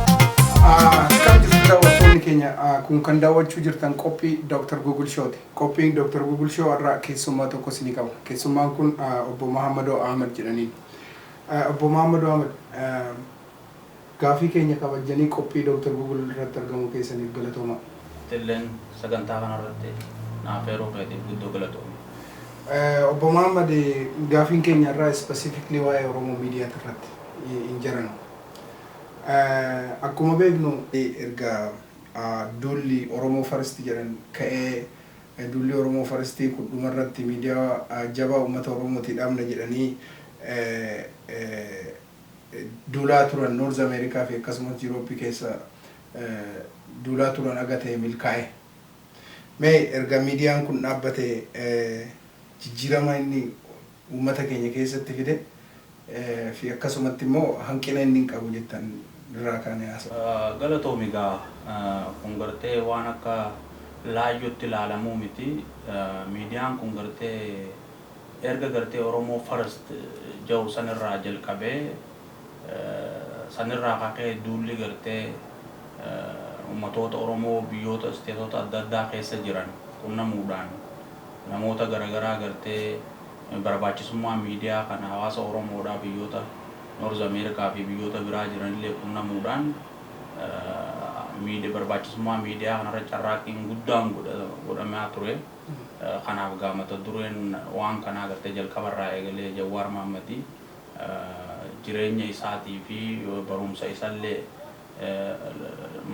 Akkam jirtu daawwattoonni keenya Ah, kun kan daawwachuu jirtan qophii Dr. Google Show ti. Qophiin Dr. Google Show irraa keessummaa tokko isinii qaba. Keessummaan kun ah, obbo Mahammadoo Ahmad jedhaniin. Ah, Obbo Mahammadoo Ahmad ah, Gaaffii keenya kabajjanii qophii Dr. Google irratti argamuu keessaniif galatoomaa. Atilleen sagantaa kana irratti na afeeruu keetiif guddoo galatoomi. Obbo Mohammed, gaafiin keenya har'aa specifically waa'ee Oromo Mediat irratti in general. Akkuma beeknu. Erga duulli Oromo First jedhan ka'ee duulli Oromo First kun dhuma irratti miidiyaa jabaa uummata Oromootii dhaabna jedhanii. duulaa turan North America fi akkasumas Europe keessa duulaa turan haga ta'e milkaa'e. Mee erga miidiyaan kun dhaabbate jijjiirama inni uummata keenya keessatti fide fi akkasumatti immoo hanqina inni qabu jettan irraa kaanee haasofna. Galatoomi egaa kun gartee waan akka laayyootti ilaalamuu miti. Miidiyaan kun gartee Erga gartee Oromoo First ja'u sanirraa jalqabee sanirraa ka ka'e duulli gartee ummatoota Oromoo biyyoota isteetota adda addaa keessa jiran qunnamuudhaan namoota garagaraa gartee barbaachisummaa miidiyaa kana hawaasa Oromoodhaa biyyoota North America fi biyyoota biraa jiranillee qunnamuudhaan barbaachisummaa miidiyaa kanarratti carraaqqiin guddaan godhamaa ture. Kanaaf gaa mata dureen waan kanaa agartee jalqaba irraa eegalee Jawwaar Mahaammadi jireenya isaatii fi barumsa isallee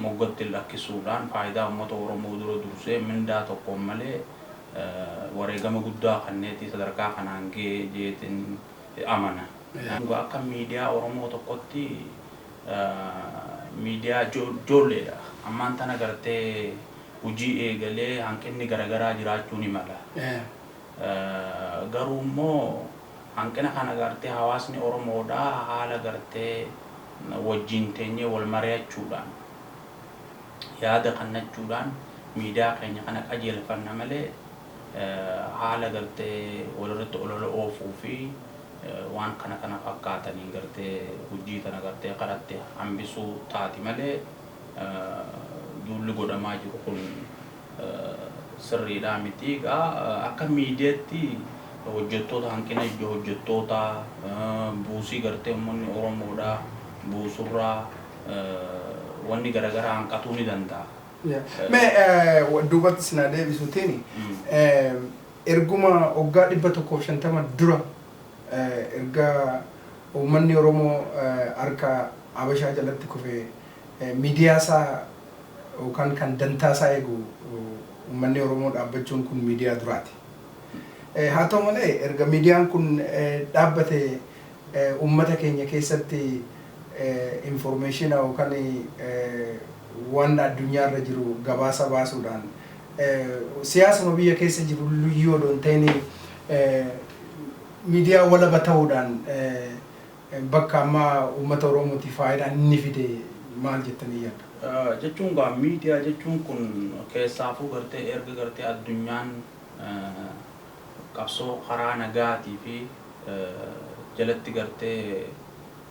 moggatti lakkisuudhaan faayidaa uummata Oromoo dura dursee mindaa tokkoon malee wareegama guddaa kanneeti sadarkaa kanaan gahe jeetiin amana. Dhugaa akka miidiyaa Oromoo tokkotti miidiyaa joolleedha. Ammaan tana agartee hojii eegalee hanqinni garagaraa jiraachuu ni mala. Garuu immoo hanqina kana gartee hawaasni Oromoodhaa haala gartee wajjiin teenyee wal mari'achuudhaan yaada kannachuudhaan miidiyaa keenya kana qajeelfanna malee haala gartee walirratti olola oofuu fi waan kana kana fakkaataniin gartee hojii tana gartee karatti hambisuu taati malee duulli godhamaa jiru kun sirriidhaa miti. Egaa akka miidiyaatti hojjettoota hanqina ijoo hojjettootaa buusii gartee uummanni Oromoodhaa buusurraa wanni garagaraa hanqatuu ni danda'a. Mee duubatti isin haa deebisuutiin erguma waggaa 150 dura erga Uummanni Oromoo harka Habashaa jalatti kufe miidiyaa isaa yookaan kan dantaa isaa eegu uummanni Oromoo dhaabbachuun kun miidiyaa duraati. Haa ta'u malee erga miidiyaan kun dhaabbate uummata keenya keessatti informeeshiina yookaan waan addunyaa irra jiru gabaasa baasuudhaan siyaasuma biyya keessa jiru iyyuu odoo hin ta'iin Miidiyaa walaba ta'uudhaan bakka amma uummata Oromootiif faayidaa inni fide maal jettanii yaaddu? Jechuun egaa miidiyaa jechuun kun keessaafuu gartee erga gartee addunyaan qabsoo karaa nagaatii fi jalatti gartee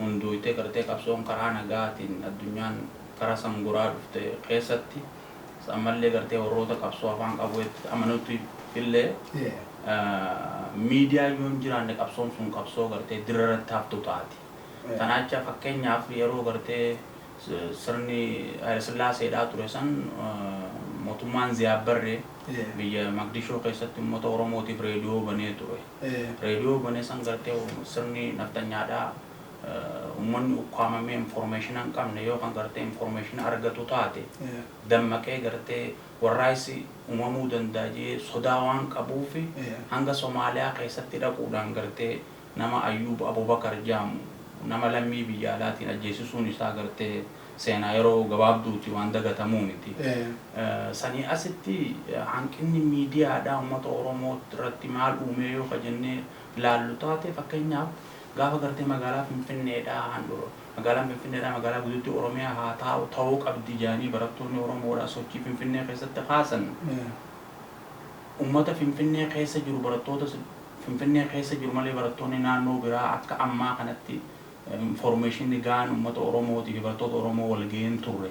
hundooytee gartee qabsoon karaa nagaatiin addunyaan kara sangoraa dhufte keessatti, As ammallee gartee warroota qabsoo afaan qawweetti amanutti illee miidiyaan yoo hin jiraanne qabsoon sun qabsoo gartee dirra irratti haftu taati. Tanaacha fakkeenyaaf yeroo gartee sirni Hayilesillaaseedhaa ture san mootummaan Ziyaad Barree biyya Maqdishoo keessatti uummata Oromootiif reediyoo banee ture. Reediyoo bane san gartee sirni nafxanyaadhaa Ummanni ukkaamamee informeeshina hin qabne yoo kan gartee informeeshina argatu taate dammaqee gartee warraaqsi umamuu danda'a jedhee sodaa waan qabuuf hanga Somaaliyaa keessatti dhaquudhaan gartee nama Ayyuub Abubakar jedhamu nama lammii biyya alaatiin ajjeesisuun isaa gartee seenaa yeroo gabaabduuti waan dagatamuu miti. Sanii asitti hanqinni miidiyaadhaa ummata Oromoo irratti maal uumee yoo ka jennee laallu taate fakkeenyaaf, Gaafa gartee magaalaa Finfinneedhaa handhuura magaalaan Finfinneedhaa magaalaa guddittii Oromiyaa haa taa'u ta'uu qabdi jedhanii barattoonni Oromoodhaa sochii Finfinnee keessatti kaasan ummata Finfinnee keessa jiru barattoota Finfinnee keessa jiru malee barattoonni naannoo biraa akka ammaa kanatti informeeshinni gahaan ummata Oromootiifi barattoota Oromoo walgahee hin turre.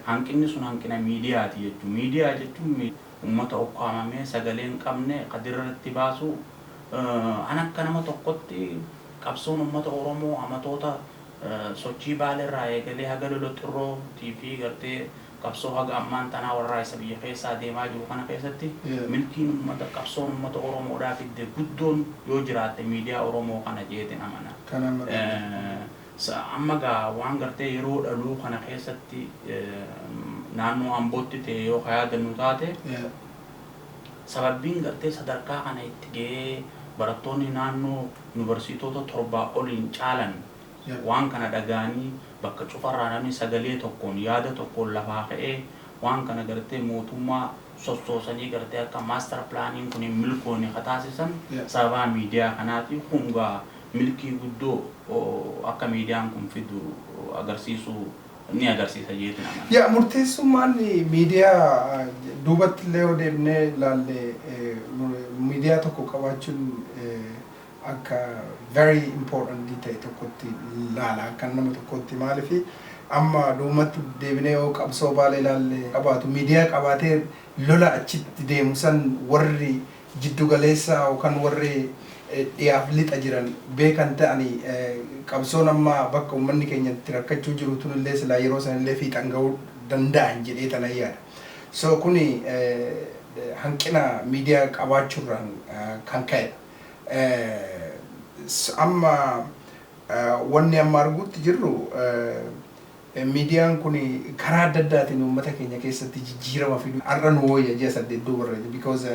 Hanqinni sun hanqina miidiyaati jechuun miidiyaa jechuun Ummata ukkaamamee sagalee hin qabne ka dirra irratti baasu, an akka nama tokkotti qabsoon ummata Oromoo amatoota sochii Baale irraa eegalee haga lola Xirroo tii fi gartee qabsoo haga ammaan tanaa warraaysa biyya keessaa deemaa jiru kana keessatti milkiin ummata qabsoon ummata Oromoo dhaa fidde guddoon yoo jiraatte miidiyaa Oromoo kana jeetin amana. Sa amma gaa waan gartee yeroo dhaluu kana keessatti naannoo Ambootti ta'e yoo ka yaadannu taate sababbiin gartee sadarkaa kana itti ga'ee barattoonni naannoo Yuunivarsiitoota torbaa oliin caalan waan kana dhaga'anii bakka cufarraa namni sagalee tokkoon, yaada tokkoon lafaa ka'ee waan kana gartee mootummaa sossoosanii gartee akka master plan kun hin milkoone ka taasisan sababaa miidiyaa kanaati. Kun gaa milkii guddoo akka miidiyaan kun fidu agarsiisuu ni agarsiisa jeetin amana. Yaa murteessummaan miidiyaa duubatti illee yoo deebinee ilaalle miidiyaa tokko qabaachuun akka very important ta'e tokkotti ilaala akkan nama tokkootti maaliif amma duubumatti deebinee yoo qabsoo baalee ilaalle qabaatu miidiyaa qabaatee lola achitti deemu san warri jiddu galeessa yookaan warri dhiyaaf lixa jiran beekan ta'anii qabsoon amma bakka ummanni keenya itti rakkachuu jiru tun illee silaa yeroo san illee fiixan ga'uu danda'an jedhee tanan yaada. So kuni hanqina miidiyaa qabaachuu irraan kan ka'edha. Amma wanni amma arguutti jirru. Miidiyaan kun karaa adda addaatiin uummata keenya keessatti jijjiirama fidu har'a nu wooyya ji'a saddeet duuba irra because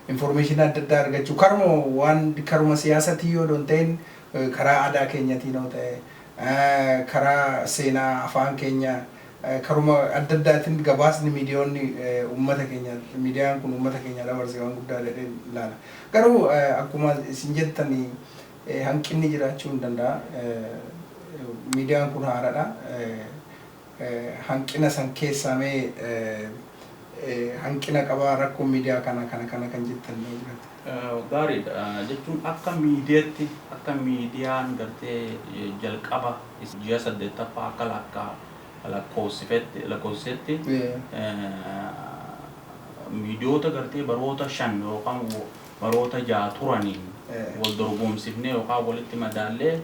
information adda addaa argachuu karuma waan karuma siyaasatiin yoo don ta'in karaa aadaa keenyatiin yoo ta'e karaa seenaa afaan keenya karuma adda addaatiin gabaasni miidiyoonni uummata keenya miidiyaan kun uummata keenya dabarse waan guddaa jedheen ilaala garuu akkuma isin jettanii hanqinni jiraachuu ni danda'a. Miidiyaan kun haaradha. Hanqina san keessaa mee hanqina qaba rakkoon miidiyaa kana kana kana kan jettan yoo jiraate? Gaariidha. Jechuun akka miidiyatti akka miidiyaan gartee jalqaba ji'a 8ffaa akka lakka lakkoofsifetti lakkoofsisetti miidiyoota gartee baroota 5 yookaan baroota jaha turaniin wal dorgoomsifnee yookaan walitti madaallee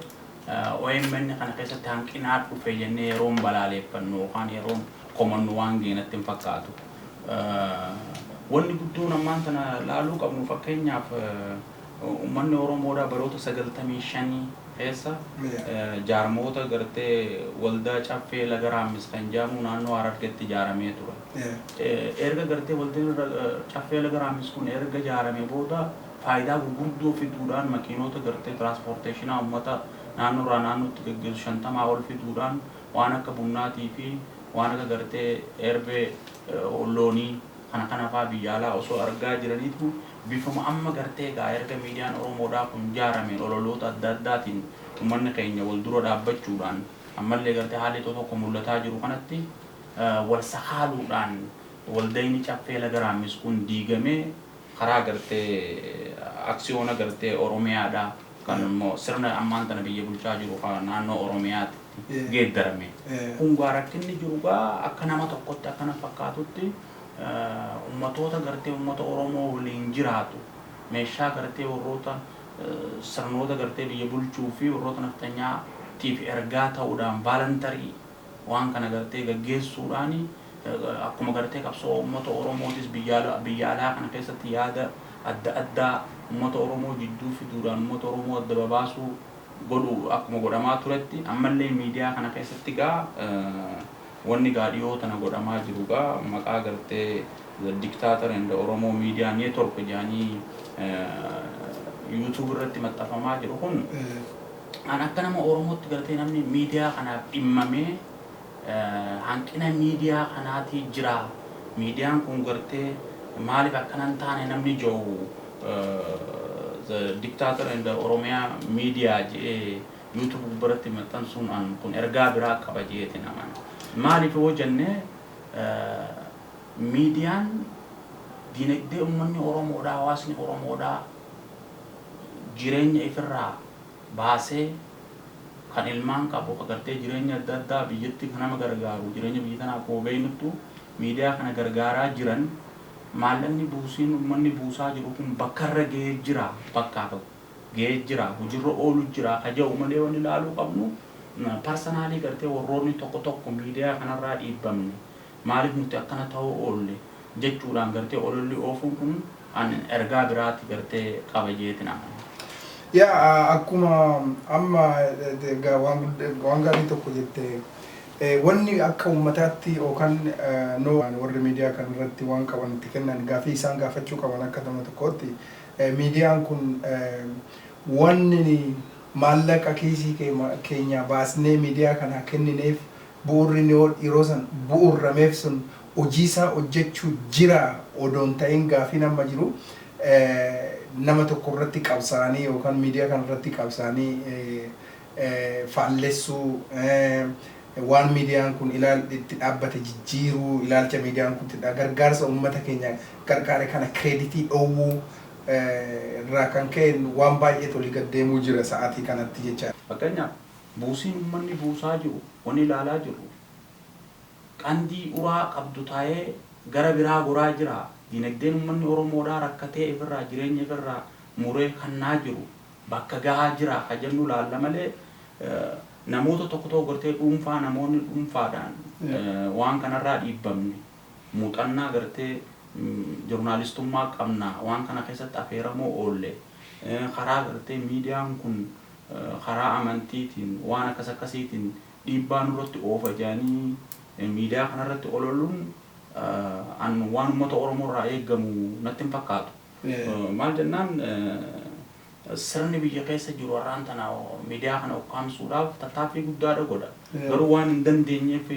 omn kana keessatti hanqinaa dhufe jennee yeroon balaaleeffannu yookaan yeroon komannu waan gahe natti hin fakkaatu. Wanni guddoon ammaan tana laaluu qabnu fakkeenyaaf ummanni Oromoodhaa baroota 95 keessa jaarmoota gartee waldaa Caffee Laga Raammis kan jedhamuu naannoo Harargetti ijaaramee ture. Erga gartee waldin irra caffee laga raammis kun erga jaarame booda faayidaa gurguddoo fiduudhaan makiinoota gartee tiraaspoorteeshinaa ummata naannoo irraa naannootti gaggeessu 50 ol fiduudhaan waan akka bunnaatii fi waan akka gartee erbee loonii kana kana faa biyya alaa osoo argaa jiraniitu bifuma amma gartee egaa erga miidiyaan oromoodhaa kun jaarameen ololoota adda addaatiin ummanni keenya wal dura dhaabbachuudhaan ammallee gartee haalli tokko tokko mul'ataa jiru kanatti wal sakaaluudhaan waldayni Caffee Laga Raammis kun diigamee karaa gartee aksiyoona gartee Oromiyaadhaa kan immoo sirna ammaan tana biyya bulchaa jiru ka naannoo Oromiyaatitti geeddarame. Kun egaa rakkinni jiru egaa akka nama tokkotti akka na fakkaatutti ummatoota gartee ummata Oromoo waliin jiraatu meeshaa gartee warroota sirnoota gartee biyya bulchuu fi warroota nafxanyaa tiif ergaa ta'uudhaan voluntary waan kana gartee gaggeessuudhaan akkuma gartee qabsoo uummata Oromootis biyya alaa kana keessatti yaada adda addaa uummata Oromoo jidduu fiduudhaan uummata Oromoo adda babaasuu godhu akkuma godhamaa turetti ammallee miidiyaa kana keessatti gaa wanni gaa dhiyoo tana godhamaa jiru gaa maqaa gartee the dictator and Oromoo media network jedhanii YouTube irratti maxxafamaa jiru kun An akka nama Oromootti galatee namni miidiyaa kanaaf dhimmamee hanqina miidiyaa kanaatii jira miidiyaan kun gartee maaliif akkana hin taane namni jowu the dictator and the Oromia media je'ee YouTube gubbaratti maxxansuun an kun ergaa biraa qaba je'eetiin amana. Maaliif yoo jenne miidiyaan diinagdee ummanni Oromoodhaa hawaasni Oromoodhaa jireenya ifirraa baasee kan ilmaan qabu ka gartee jireenya adda addaa biyyatti ka nama gargaaru jireenya biyya tanaa akkuma beeynuttu miidiyaa kana gargaaraa jiran maallaqni buusiin ummanni buusaa jiru kun bakka irra gahee jiraa bakkaa tokko gahee jiraa hujirra oolu jiraa ka ja'u malee wanni laaluu qabnu parsanaalii gartee warroonni tokko tokko miidiyaa kanarraa dhiibbamne Maaliif nuti akkana ta'uu oolle jechuudhaan gartee ololli oofuun kun an ergaa biraati gartee qaba jeetin amana. Yaa akkuma amma egaa waan gudda waan gaarii tokko jette wanni akka uummataatti yookaan no warri miidiyaa kana irratti waan qaban itti kennan gaafii isaan gaafachuu qaban akka nama tokkootti miidiyaan kun wanni maallaqa kiisii kee keenyaa baasnee miidiyaa kanaa kennineef Bu'uurri Niwood yeroo san bu'uurrameef sun hojii isaa hojjachuu jiraa odoo hin ta'in gaaffiin amma jiru nama tokko irratti qabsaa'anii yookaan miidiyaa kana irratti qabsaa'anii faallessuu, waan miidiyaan kun itti dhaabbate jijjiiruu, ilaalcha miidiyaan kun itti gargaarsa ummata keenya gargaare kana kireeditii dhoowwuu irraa kan ka'een waan baay'eet olii gad deemuu jira sa'aatii kanatti jechaadha. Fakkeenyaaf, Buusiin ummanni buusaa jiru wani ilaalaa jirru qandii uraa qabdu taa'ee gara biraa goraa jira. Diinagdeen ummanni Oromoodhaa rakkatee ifirraa jireenya ifirraa muree kannaa jiru bakka gahaa jiraa ka jennu ilaalla malee namoota tokko tokko gartee dhuunfaa namoonni dhunfaadhaan waan kanarraa dhiibbamne muuxannaa gartee jornaalistummaa qabna waan kana keessatti afeeramoo oolle karaa gartee miidiyaan kun karaa amantiitiin waan akkas akkasiitiin dhiibbaa nurratti oofa jedhanii miidiyaa kanarratti ololuun an waan ummata Oromoo irraa eegamu natti hin fakkaatu. Maal jennaan sirni biyya keessa jiru har'aan tana miidiyaa kana ukkaamsuudhaaf tattaaffii guddaadha godha. Garuu waan hin dandeenyeef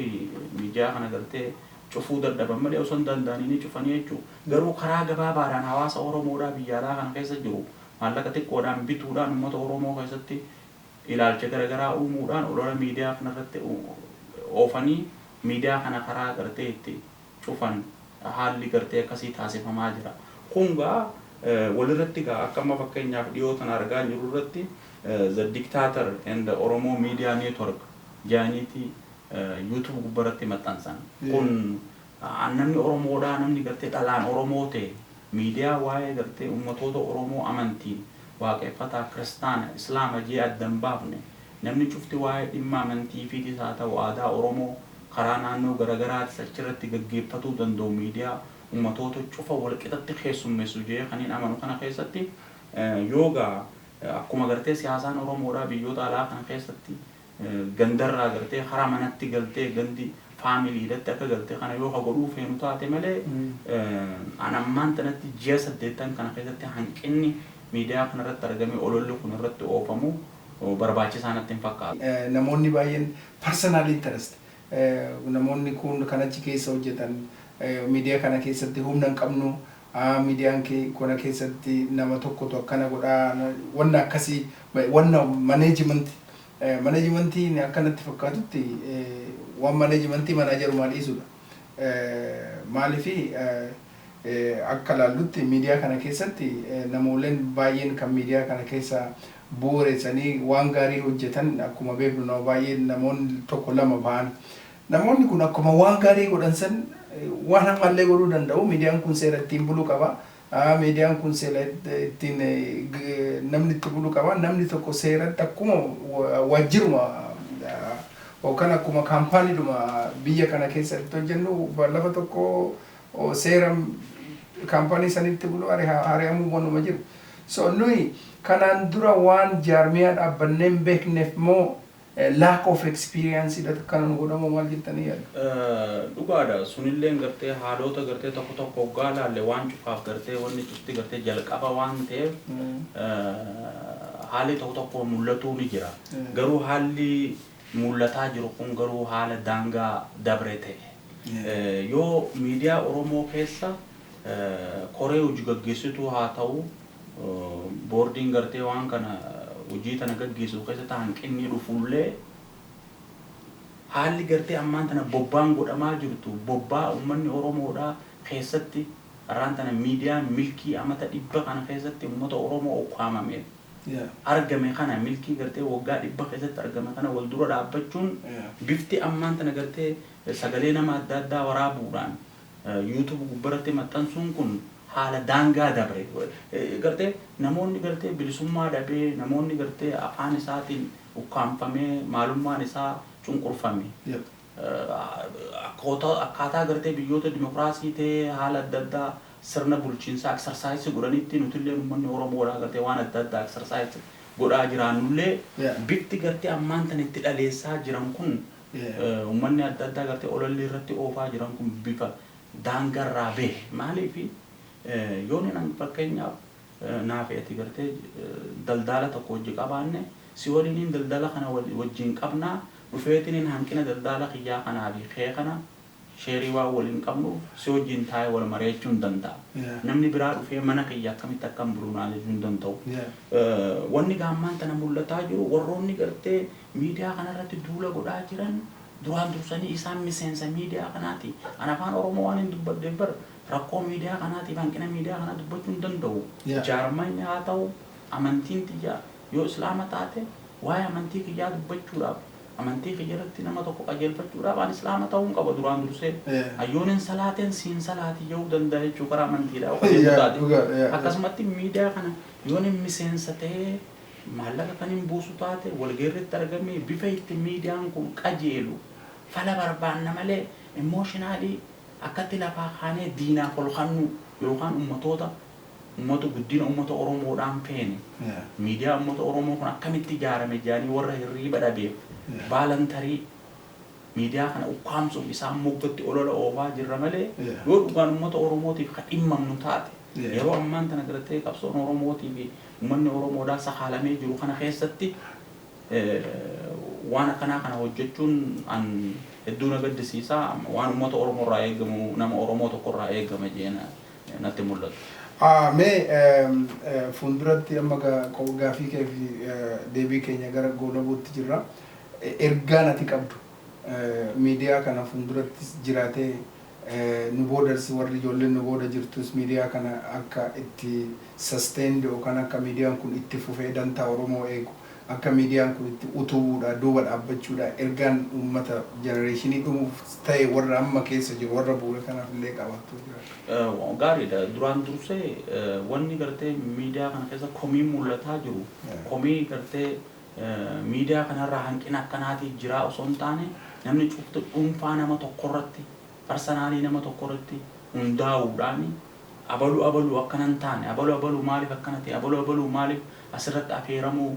miidiyaa kana gartee cufuu dadhaban malee osoo hin danda'anii ni cufanii jechuudha. Garuu karaa gabaabaadhaan hawaasa Oromoodhaa biyya alaa kana keessa jiru Maallaqa xiqqoodhaan bituudhaan ummata Oromoo keessatti ilaalcha gara garaa uumuudhaan olola miidiyaa kana irratti oofanii miidiyaa kana karaa gartee itti cufan haalli gartee akkasii taasifamaa jira. Kun egaa walirratti egaa akka amma fakkeenyaaf dhiyoo tana argaa jirru irratti The Dictator and Oromo Media Network jedhaniiti YouTube gubbarratti maxxansan. Kun An namni Oromoodhaa namni gartee dhalaan Oromoo ta'e miidiyaa waa'ee gartee ummatoota Oromoo amantiin Waaqeffataa, Kiristaana, Islaama jee adda hin baafne namni cufti waa'ee dhimma amantiifiitis haa ta'u aadaa Oromoo karaa naannoo garagaraatis achirratti gaggeeffatuu danda'u miidiyaa ummatoota cufa walqixatti keessummessu jee kanin amanu kana keessatti yoo gaa akkuma gartee siyaasaan Oromoodhaa biyyoota alaa kana keessatti gandarraa gartee karaa manatti galtee gandi family dhatti akka galte kana yoo ka godhuu feenu taate malee an ammaan tanatti ji'a saddeettan kana keessatti hanqinni miidiyaa kana irratti argamee ololli kun irratti oofamu barbaachisaa natti hin fakkaatu. Namoonni baay'een personal interest namoonni kun kan achi keessa hojjetan miidiyaa kana keessatti humna hin qabnu a midiyaan ke kona kesati nama tokkotu akkana godha wanna akkasi wanna management management akka natti fakkatutti wan management manageruma dhiisudha maalifi akka laallutti midiyaa kana keessatti namooleen baay'een kan midiyaa kana keessa bu'uresanii waan gaarii hojjetan akkuma beeknu nama baay'ee namoon tokko lama ba'an Namoonni kun akkuma waan gaarii godhan san waan hamma illee godhuu danda'u. Miidiyaan kun seera ittiin bulu qaba. Miidiyaan kun seela ittiin namni itti bulu qaba. Namni tokko seeratti akkuma waajjiruma yookaan akkuma kaampaaniidhuma biyya kana keessa itti hojjennu lafa tokko seera kaampaanii sanitti bulu hari'amuu wanuma jiru. So nuyi kanaan dura waan jaarmiyaa dhaabbannee hin beekneef moo Lack of experience dhatu kana nu godhamoo maal jettanii yaaddu? Dhugaadha sunilleen gartee haaloota gartee tokko tokko hoggaa ilaalle waan cufaaf gartee wanni cufti gartee jalqaba waan ta'eef haalli tokko tokko mul'atuu ni jira. Garuu haalli mul'ataa jiru kun garuu haala daangaa dabre ta'e. Yoo miidiyaa Oromoo keessa koree hojigaggeessituu haa ta'u, boordiin gartee waan kana hojii tana gaggeessu keessatti hanqinni dhufullee haalli gartee ammaan tana bobbaan godhamaa jirtu bobbaa ummanni Oromoodhaa keessatti har'aan tana miidiyaan milkii amata dhibba kana keessatti ummata Oromoo ukkaamameef Yeah. argame kana milkii gartee waggaa dhibba keessatti argame kana wal dura dhaabbachuun Yeah. bifti ammaan tana gartee sagalee nama adda addaa waraabuudhaan YouTube gubbaratti maxxansuun kun haala daangaa dabre. Gartee namoonni gartee bilisummaa dhabee, namoonni gartee afaan isaatiin ukkaamfamee, maalummaan isaa cunqurfame. Akkootaa akkaataa gartee biyyoota dimokiraasii ta'ee haala adda addaa sirna bulchiinsaa exercise godhanitti nutilleen ummanni Oromoodhaa gartee waan adda addaa exercise godhaa jiraannullee bifti gartee ammaan tana itti dhaleessaa jiran kun Ummanni adda addaa gartee ololli irratti oofaa jiran kun bifa daangaa irraa bahe. Maaliif yoo nin an fakkeenyaaf naafi ati gartee daldaala tokko wajji qabaanne si waliiniin daldala kana wajjiin qabnaa dhufeetiniin hanqina daldaala kiyyaa kanaa fi kee kana Sheerii waan waliin qabnuuf si wajjin taa'ee wal mari'achuu hin danda'a. Namni biraa dhufee mana kiyya akkamitti akkan bulu na ajajuu hin danda'u. Wanni egaa ammaan tana mul'ataa jiru warroonni gartee miidiyaa kana irratti duula godhaa jiran duraan dursanii isaan miseensa miidiyaa kanaati. Ani afaan Oromoo waanin dubbadheef bar rakkoo miidiyaa kanaatiif hanqina miidiyaa kanaa dubbachuu hin danda'u. Jaarmayni haa ta'u, amantiin tiyya Yoo Islaama taate, waa'ee amantii kiyyaa dubbachuudhaaf, amantii kiyya irratti nama tokko qajeelfachuudhaaf ani Islaama ta'uun qaba duraan dursee. An yoon hin salaatin si hin salaatin ja'uu danda'a jechuu karaa amantiidhaa yoo qajeeluu taate. Akkasumatti miidiyaa kana yoon hin miseensa ta'ee, maallaqa kan hin buusu taate, walga'ii irratti argamee bifa itti miidiyaan kun qajeelu fala barbaanna malee emotionally akkatti lafaa kaanee diinaaf ol kannuu yookaan ummatoota Ummata guddina ummata Oromoodhaan feene, miidiyaa ummata Oromoo kun akkamitti ijaarame jedhanii warra hirriiba dhabeef baalantarii miidiyaa kana ukkaamsuuf isaan moggatti olola oofaa jirra malee yoo dhugaan ummata Oromootiif ka dhimmamnu taate yeroo ammaan tana gartee qabsoon Oromootii fi ummanni Oromoodhaa sakaalamee jiru kana keessatti waan akkanaa kana hojjachuun an hedduu na gaddisiisa. Waan ummata Oromoorraa eegamu nama Oromoo tokkorraa eegama jedhee na natti hin mul'atu. Mee fuulduratti amma gaaffii kee fi deebii keenya gara goolabuutti jirra. Ergaan ati qabdu miidiyaa kana fuuldurattis jiraatee nu boodas warri ijoolleen nu booda jirtus miidiyaa kana akka itti sustained yookaan akka miidiyaan kun itti fufee dantaa Oromoo eegu Akka miidiyaan kun itti utubuudhaa duuba dhaabbachuudhaa ergaan uummata jenereeshinii dhumuuf ta'e warra amma keessa jiru warra bu'ure kanaaf illee qabaattu jiraadha. Gaariidha. Duraan dursee wanni gartee miidiyaa kana keessa komiin mul'ataa jiru komii gartee miidiyaa kanarraa hanqina akkanaati jiraa osoo hin taane namni cufti dhuunfaa nama tokkorratti Parsanaalii nama tokko irratti hundaa'uudhaan abalu abalu akkana hin taane, abalu abalu maaliif akkana ta'e, abalu abalu maaliif asirratti afeeramuu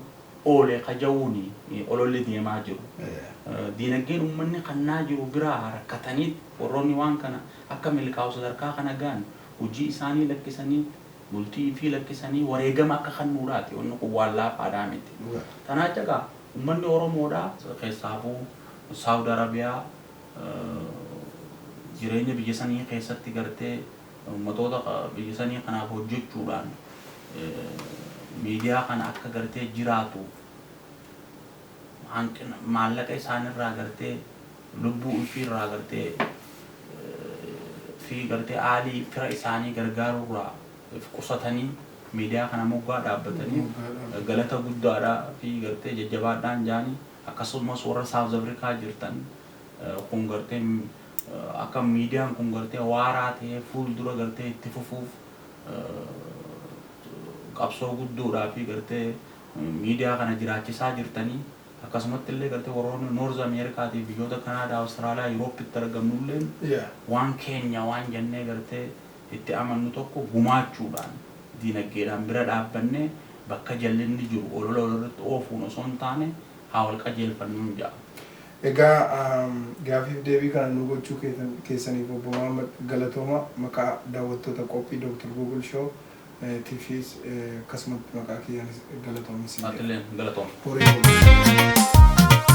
oole ka ja'uun ololli deemaa jiru. Diinagdeen ummanni kannaa jiru biraa rakkataniit warroonni waan kana akka milkaa'u sadarkaa kana ga'an hujii isaanii lakkisanii, bultii ifii lakkisanii wareegama akka kannuudhaati. Wanni kun waan laafaadhaa miti. Tanaa jecha gaa ummanni Oromoodhaa keessaafuu Saawud Arabiyaa, jireenya biyya sanii keessatti gartee ummatoota biyya sanii kanaaf hojjechuudhaan miidiyaa kana akka gartee jiraatu hanqina maallaqa isaanirraa gartee lubbuu ufiirraa gartee fi gartee aalii fira isaanii gargaaruurraa if qusatanii miidiyaa kana moggaa dhaabbatanii galata guddaadhaa fi gartee jajjabaadhaan jaanii Akkasuumas warra South Africa jirtan kun gartee akka median kun gartee waaraa ta'ee fuul dura gartee itti fufuuf qabsoo guddoodhaafi gartee media kana jiraachisaa jirtanii akkasumatti illee gartee warroonni North America tiif biyyoota Canada, Australia, Europe tti argamnu illeen waan keenya waan jennee gartee itti amannu tokko gumaachuudhaan diinaggeedhaan bira dhaabbannee bakka jallinni jiru olola walirratti oofuun osoo hin taane haa wal qajeelfannuun ja'a. Egaa gaafiif deebii kana nuu gochuu keessaniif Obbo Mohammed galatooma maqaa daawwattoota qophii Dr. Google Show tifiis akkasumatti maqaa kiyyaanis galatoomi siin jedha. Atileen galatoomi. Horii bulaa.